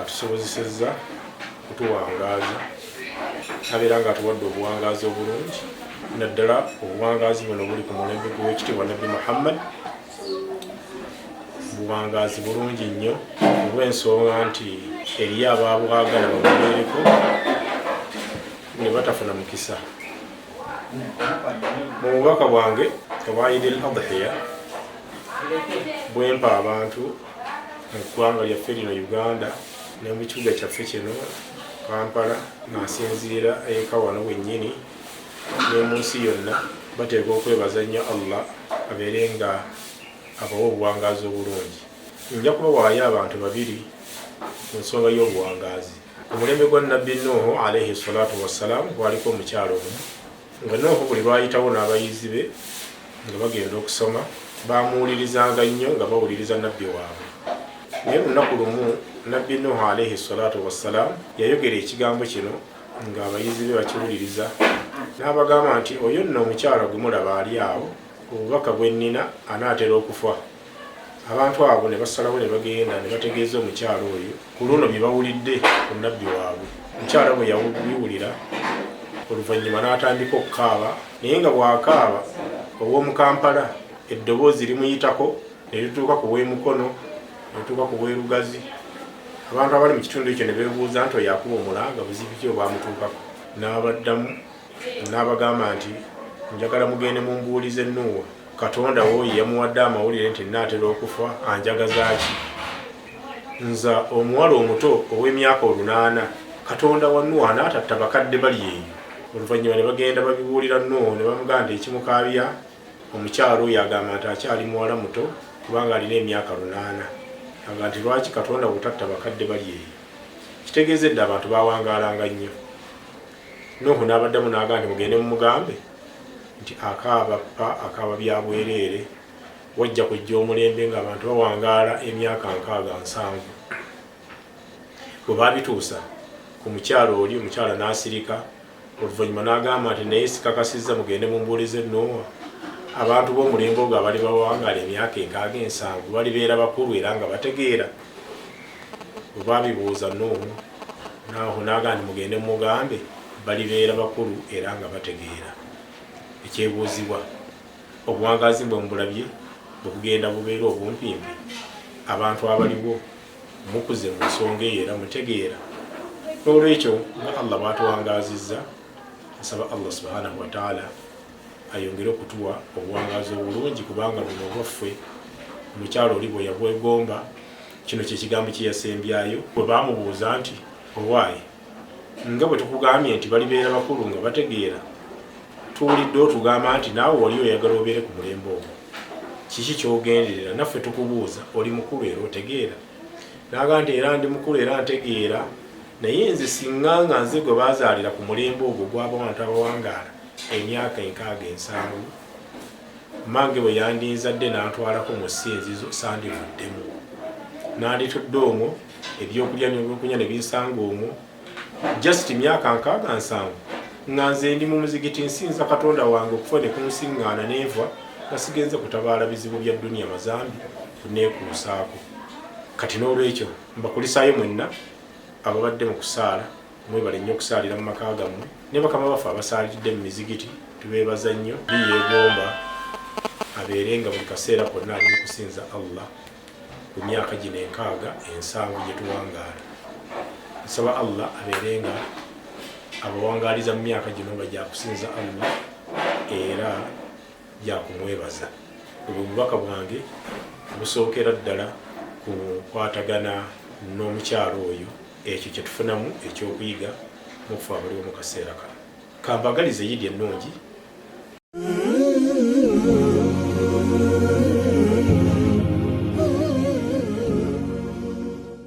atusobozesezza kutuwangaaza abeera nga atuwadde obuwangaazi obulungi naddala obuwangaazi buno buli ku mulembe gw'ekitiibwa nabbi muhammad buwangaazi bulungi nnyo olw'ensonga nti eriyo abaabwagala babubeereko ne batafuna mukisa mu bubaka bwange obwa idil adhiya bwempa abantu mu ggwanga lyaffe lino Uganda ne mu kibuga kyaffe kino Kampala ng'asinziira eka wano wennyini ne mu nsi yonna bateekwa okwebaza nnyo Allah abeere nga abawa obuwangaazi obulungi nja kubawaayo abantu babiri ku nsonga y'obuwangaazi omulembe gwa nabbi nuuhu alaihi salatu wassalamu gwaliko omukyalo omu Nga Nuuhu buli lwayitawo n'abayizi be nga bagenda okusoma, baamuwulirizanga nnyo nga bawuliriza Nabbi waabwe. Naye lunaku lumu Nabbi Nuuhu alaihi swalatu wassalaamu yayogera ekigambo kino nga abayizi be bakiwuliriza n'abagamba nti, Oyo nno omukyala gwe mulaba ali awo, obubaka bwe nnina anaatera okufa. abantu abo ne basalawo ne bagenda ne bategeeza omukyala oyo ku luno bye bawulidde ku nabbi waabwe omukyala bwe yabiwulira oluvannyuma n'atandika okukaaba naye nga bw'akaaba ow'omu kampala eddoboozi limuyitako ne lituuka ku w'emukono ne lituuka ku w'erugazi abantu abali mu kitundu ekyo ne beebuuza nti oyo akuba omulanga buzibu ki obwamutuukako n'abaddamu N'abagamba nti, Njagala mugende mumbuulize Nuuwa, Katonda wo ye yamuwadde amawulire nti nnaatera okufa, anjagaza ki? Nze omuwala omuto ow'emyaka olunaana, Katonda wa Nuuwa anaatatta bakadde bali eyo? Oluvannyuma ne bagenda babibuulira Nuuwa ne bamugamba nti, Ekimukaabya, omukyala oyo agamba nti akyali muwala muto kubanga alina emyaka lunaana. Agamba nti, Lwaki Katonda wo tatta bakadde bali eyo? Kitegeeza edda abantu baawangaalanga nnyo. Nuuhu n'abaddamu n'agamba nti, Mugende mumugambe nti akaaba ppa, akaaba bya bwereere, wajja kujja omulembe ng'abantu bawangaala emyaka nkaaga nsanvu. Bwe baabituusa ku mukyala oli, omukyala n'asirika, oluvannyuma n'agamba nti, Naye sikakasizza, mugende mumbuulize Nuuwa, abantu b'omulembe ogwo abali bawangaala emyaka enkaaga ensanvu balibeera bakulu era nga bategeera? Bwe baabibuuza Nuuhu. Naahu n'agamba nti, Mugende mumugambe, balibeera bakulu era nga bategeera. Ekyebuuzibwa, Obuwangaazi bwe mubulabye bwe bugenda bubeera obumpimpi? Abantu abaliwo mukuze mu nsonga eyo era mutegeera? N'olwekyo nga Allah bw'atuwangaazizza, nsaba Allah subhanahu wa taala ayongere okutuwa obuwangaazi obulungi kubanga buno obwaffe omukyalo oli bwe yabwegomba Kino kye kigambo kye yasembyayo bwe baamubuuza nti, Owaaye, nga bwe tukugambye nti balibeera bakulu nga bategeera, tuwulidde otugamba nti naawe wali oyagala obeere ku mulembe ogwo. Kiki ky'ogenderera? Naffe tukubuuza, oli mukulu era otegeera? N'agamba nti, Era ndi mukulu era ntegeera, naye nze singa nga nze gwe baazaalira ku mulembe ogwo ogw'abantu abawangaala emyaka enkaaga ensanvu. Mmange bwe yandinzadde n'antwalako mu Ssinzizo, ssandivuddemu. Nanditudde omwo, eby'okulya n'ebyokunywa ne binsanga omwo. Just myaka nkaaga nsanvu nga nze ndi mu muzigiti nsinza Katonda wange okufa ne kunsinngaana ne nfa nga sigenze kutabaala bizibu bya dduniya mazambi kunneekuusaako. Kati n'olwekyo mbakulisaayo mwenna ababadde mu kusaala Mwebale nnyo okusaalira mu maka gammwe ne bakama baffe abasaaliridde mu mizigiti tubeebaza nnyo bi yeegomba abeere nga buli kaseera konna ali mu kusinza Allah ku myaka gino enkaaga ensanvu gye tuwangaala nsaba Allah abeere nga abawangaaliza mu myaka gino nga gyakusinza Allah era gyakumwebaza obwo bubaka bwange busookera ddala ku kwatagana n'omukyalo oyo Ekyo kye tufunamu eky'okuyiga mu kufa abaliwo mu kaseera kano. Kambagalize yidi ennungi.